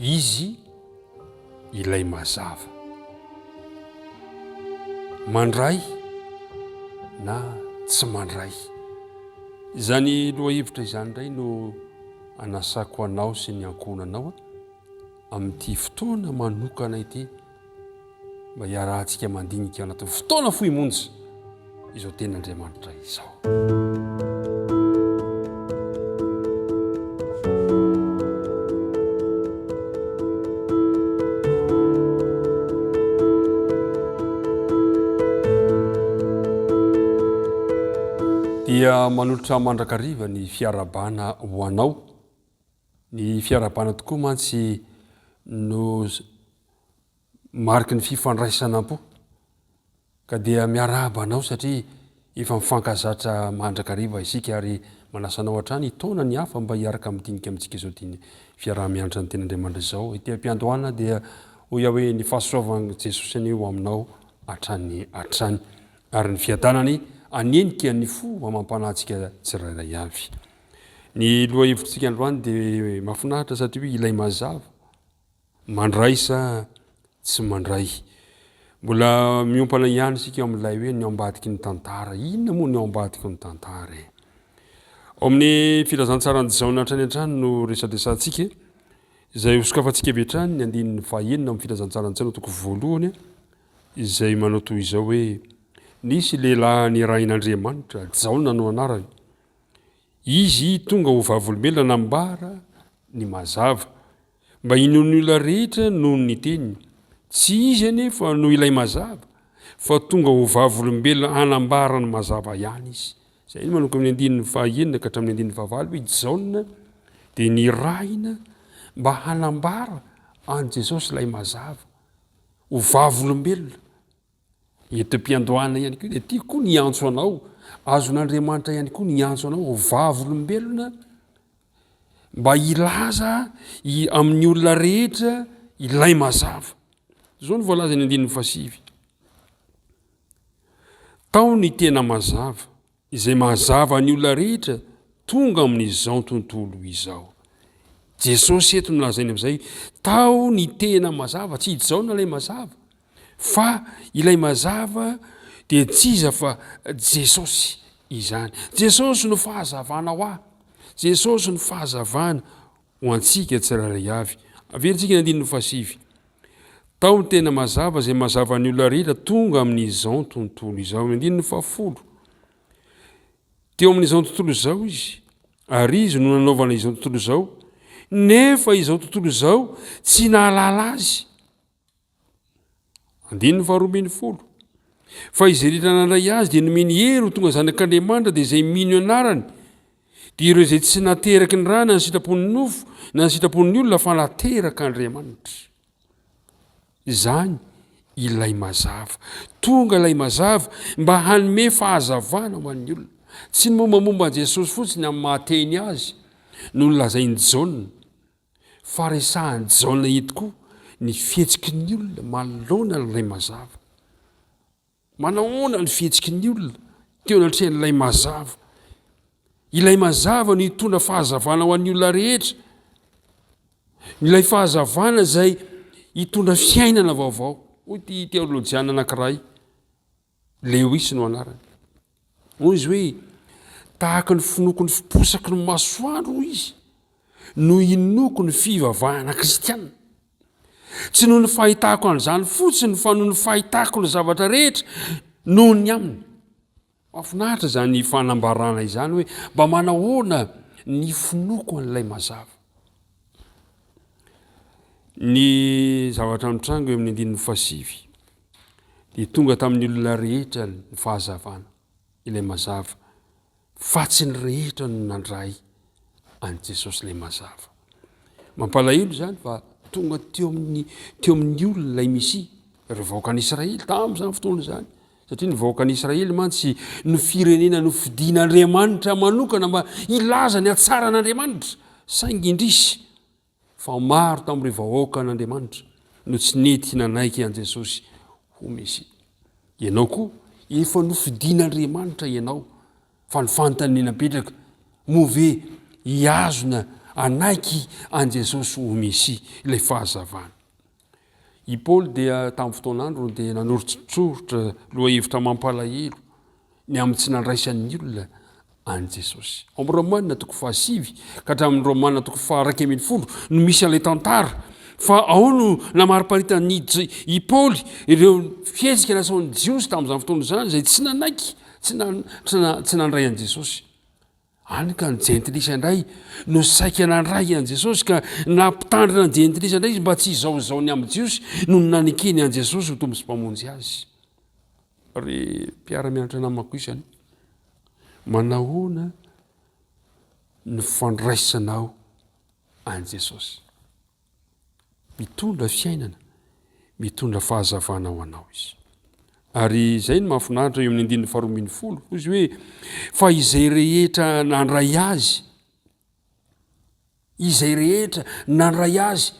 Izy ilay mazava. Mandray na tsy mandray. Izany lohahevitra izany indray no anasako anao sy ny ankohonanao amin'ity fotoana manokana ity. mba hiarahantsika mandinika ao anatin'ny fotoana fohy monja izao tenin'Andriamanitra izao. dia manolotra mandrakariva ny fiarabana ho anao Ny fiarahabana tokoa mantsy no mariky ny fifandraisanam-po, ka dia miarahaba anao satria efa mifankazatra mandrakariva isika ary manasa anao hatrany hitaona ny hafa mba hiaraka amin'ny dinika amintsika izao dian'ny fiaraha-mianatra ny Ten'Andriamanitra izao. Ety am-piandohana dia hoy aho hoe ny fahasoavan'i Jesosy anie ho aminao hatrany hatrany ary ny fiadanany hanenika ny fo amam-panahintsika tsirairay avy. Ny lohahevitsika androany dia mafinaritra satria hoe ilay mazava mandray sa tsy mandray. Mbola miompana ihany isika ao amin'ilay hoe ny ao ambadiky ny tantara. Inona moa ny ao ambadiky ny tantara e? Ao amin'ny filazantsaran'i Jaona hatrany hatrany no resadresantsika izay hosokafantsika avy hatrany ny andininy fahenina amin'ny filazantsaran'i Jaona toko voalohany izay manao toy izao hoe nisy lehilahy nirahin'Andriamanitra, Jaona no anarany. Izy tonga ho vavolombelona nambara ny mazava, mba hinoan'ny olona rehetra noho ny teniny. Tsy izy anefa no ilay mazava, fa tonga ho vavolombelona hanambara ny mazava ihany izy. Izay no manomboka amin'ny andininy fahaenina ka hatramin'ny andininy fahavalo hoe Jaona dia nirahina mba hanambara an'i Jesosy ilay mazava, ho vavolombelona. Eto am-piandohana ihany koa dia tiako koa ny hiantso anao, azon'Andriamanitra ihany koa ny hiantso anao ho vavolombelona mba hilaza i- amin'ny olona rehetra ilay mazava. Izao no voalazan'ny andininy fahasivy. Tao ny tena mazava, Izay mahazava ny olona rehetra tonga amin'izao tontolo izao. Jesosy eto no lazainy amin'izay, tao ny tena mazava, tsy i Jaona ilay mazava, fa ilay mazava dia tsy iza fa Jesosy izany. Jesosy no fahazavana ho ahy, Jesosy no fahazavana ho antsika tsirairay avy. Averintsika ny andininy fahasivy. Tao ny tena mazava izay mazava ny olona rehetra tonga amin'izao tontolo izao. Ny andininy fahafolo. Teo amin'izao tontolo izao izy, ary izy no nanaovana izao tontolo izao, nefa izao tontolo izao tsy nahalala azy. Andininy faharoa ambin'ny folo. Fa izay rehetra nandray Azy dia nomeny hery ho tonga zanak'Andriamanitra, dia izay mino anarany, dia ireo izay tsy nateraky ny ra na ny sitrapon'ny nofo na ny sitrapon'ny olona fa naterak'Andriamanitra. Izany ilay mazava. Tonga ilay mazava mba hanome fahazavana ho an'ny olona. Tsy ny mombamomba an'i Jesosy fotsiny amin'ny mahateny azy no nolazain'i Jaona. fa resahan'i Jaona eto koa ny fihetsiky ny olona manoloana an'ilay mazava. Manahoana ny fihetsiky ny olona teo anatrehan'ilay mazava? Ilay mazava no hitondra fahazavana ho an'ny olona rehetra. Ilay fahazavana izay hitondra fiainana vaovao. Hoy ity teolojiana anankiray, Lewis no anarany. Hoy izy hoe, Tahaka ny finoako ny fiposaky ny masoandro, hoy izy, no inoako ny fivavahana kristianina. Tsy noho ny fahitako an'izany fotsiny fa noho ny fahitako ny zavatra rehetra noho ny aminy. Mafinaritra izany fanambarana izany hoe mba manahoana ny finoako an'ilay mazava. Ny zavatra mitranga eo amin'ny andininy fasivy. dia tonga tamin'ny olona rehetra ny fahazavana, ilay mazava, fa tsy ny rehetra no nandray an'i Jesosy ilay mazava. Mampalahelo izany fa tonga teo amin'ny teo amin'ny olona ilay Mesia, ireo vahoakan'i Israely tamin'izany fotoana izany. Satria ny vahoakan'i Israely mantsy no firenena nofidin'Andriamanitra manokana mba hilaza ny hatsaran'Andriamanitra, saingy indrisy Fa maro tamin'ireo vahoakan'Andriamanitra no tsy nety nanaiky an'i Jesosy ho Mesia. Ianao koa, efa nofidin'Andriamanitra ianao, fa ny fanontaniana mipetraka, moa ve hihazona hanaiky an'i Jesosy ho Mesia ilay fahazavana? I Paoly dia tamin'ny fotoan'androny dia nanoritsoritra lohahevitra mampalahelo ny amin'ny tsy nandraisan'ny olona an'i Jesosy. Ao amin'ny Romana toko fahasivy ka hatramin'ny Romana toko faharaika ambin'ny folo no misy an'ilay tantara fa ao no namariparitan'i i Paoly ireo fihetsika nasaon'ny Jiosy tamin'izany fotoana izany izay tsy nanaiky tsy nandray an'i Jesosy. Hany ka ny jentilisa indray no saika nandray an'i Jesosy, ka nampitandrina ny jentilisa indray izy mba tsy hizahozaho ny amin'ny Jiosy, nony nanekeny an'i Jesosy ho Tompo sy Mpamonjy azy. Ry mpiara-mianatra namako isany, manahoana no fandraisanao an'i Jesosy? Mitondra fiainana, mitondra fahazavana ho anao izy. Ary izay no mahafinaritra eo amin'ny andininy faharoa ambin'ny folo, hoy izy hoe fa izay rehetra nandray azy, izay rehetra nandray azy,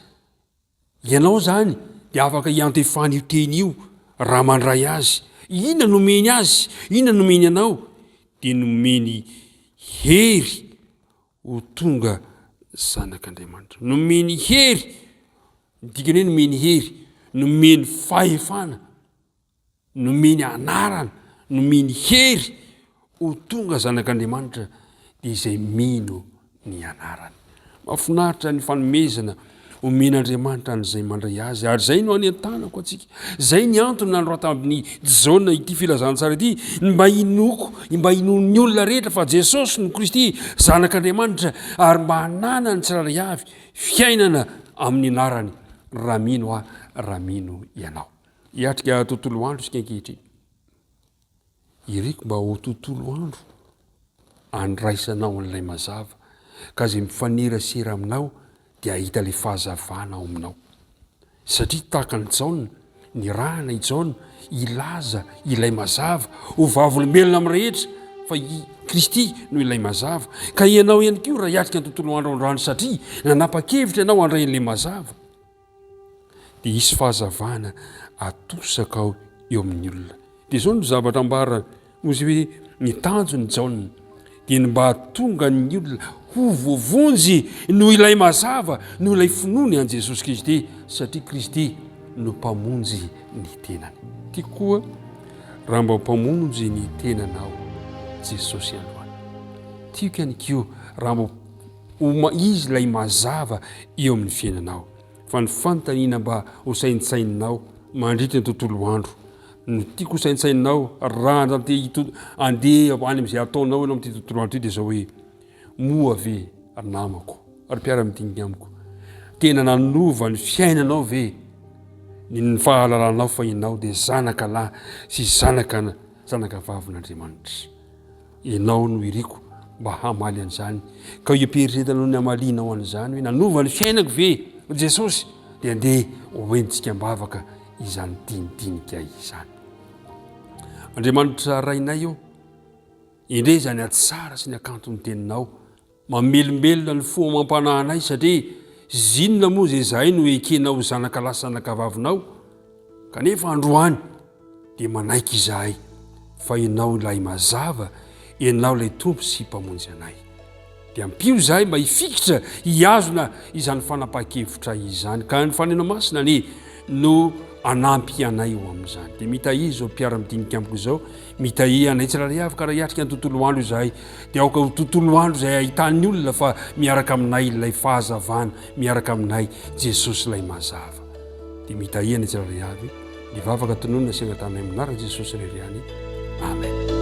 ianao zany dia afaka hiantefan'io teny io raha mandray azy. Inona nomeny azy? Inona nomeny anao? Dia nomeny hery ho tonga zanak'Andriamanitra. Nomeny hery, ny dikany hoe nomeny hery, nomeny fahefana, nomeny anarana, nomeny hery ho tonga zanak'Andriamanitra dia izay mino ny anarany. Mahafinaritra ny fanomezana Omen'Andriamanitra an'izay mandray azy ary izay no anentanako antsika. Izay ny antony nanoratan'i Jaona ity filazantsara ity, ny mba hinoako, ny mba hinoan'ny olona rehetra fa Jesosy no Kristy, Zanak'Andriamanitra, ary mba hananan'ny tsirairay avy fiainana amin'ny anarany, raha mino aho, raha mino ianao. Hiatrika tontolo andro isika ankehitriny. Iriko mba ho tontolo andro andraisanao an'ilay mazava, ka izay mifanerasera aminao dia hahita ilay fahazavana ao aminao. Satria tahaka an'i Jaona, nirahana i Jaona hilaza ilay mazava ho vavolombelona amin'ny rehetra fa i Kristy no ilay mazava, ka ianao ihany koa raha hiatrika ny tontolo andro androany satria nanapa-kevitra ianao handray an'ilay mazava, dia hisy fahazavana atosaka ao eo amin'ny olona dia izao no zavatra ambarany noho izay hoe ny tanjon'i jaona dia ny mba hatonga ny olona ho voavonjy noho ilay mazava noho ilay finoany an'i jesosy kristy satria kristy no mpamonjy ny tenany ty koa raha mba mpamonjy ny tenanao jesosy androany tiako ihany ko raha mba Ho izy ilay mazava eo amin'ny fiainanao. Fa ny fanontaniana mba ho saintsaininao mandritra ny tontolo andro, no tiako ho saintsaininao raha andeha andeha any amin'izay ataonao ianao amin'ity tontolo andro ity dia izao hoe, moa ve ry namako, ry mpiara-midinika amiko, tena nanova ny fiainanao ve ny fahalalanao fa ianao dia zanaka lahy sy zanaka zanakavavin'Andriamanitra? Ianao no iriko mba hamaly an'izany. Ka io fieritreretanao ny hamalianao an'izany hoe nanova ny fiainako ve Jesosy? Dia andeha hoentintsika am-bavaka izany dinidinika izany. Andriamanitra Rainay ô, indre izany atsara sy ny akanton'ny teninao Mamelombelona ny fo amam-panahy anay satria zinona moa izay izahay no ekena ho zanakalahy sy zanakavavinao? Kanefa androany dia manaiky izahay fa Ianao ilay Mazava, Ianao ilay Tompo sy Mpamonjy anay. Dia ampio izahay mba hifikitra hihazona izany fanapahan-kevitra izany ka ny Fanahy Masina anie no hanampy anay ho amin'izany. Dia mitahia izao mpiara-midinika amiko izao, mitahia anay tsirairay avy ka raha hiatrika ny tontolo andro izahay, dia aoka ho tontolo andro izay ahitan'ny olona fa miaraka aminay ilay fahazavana, miaraka aminay Jesosy ilay mazava. Dia mitahia anay tsirairay avy ny vavaka tononina sy angatanay amin'ny anaran'i Jesosy irery ihany. Amen.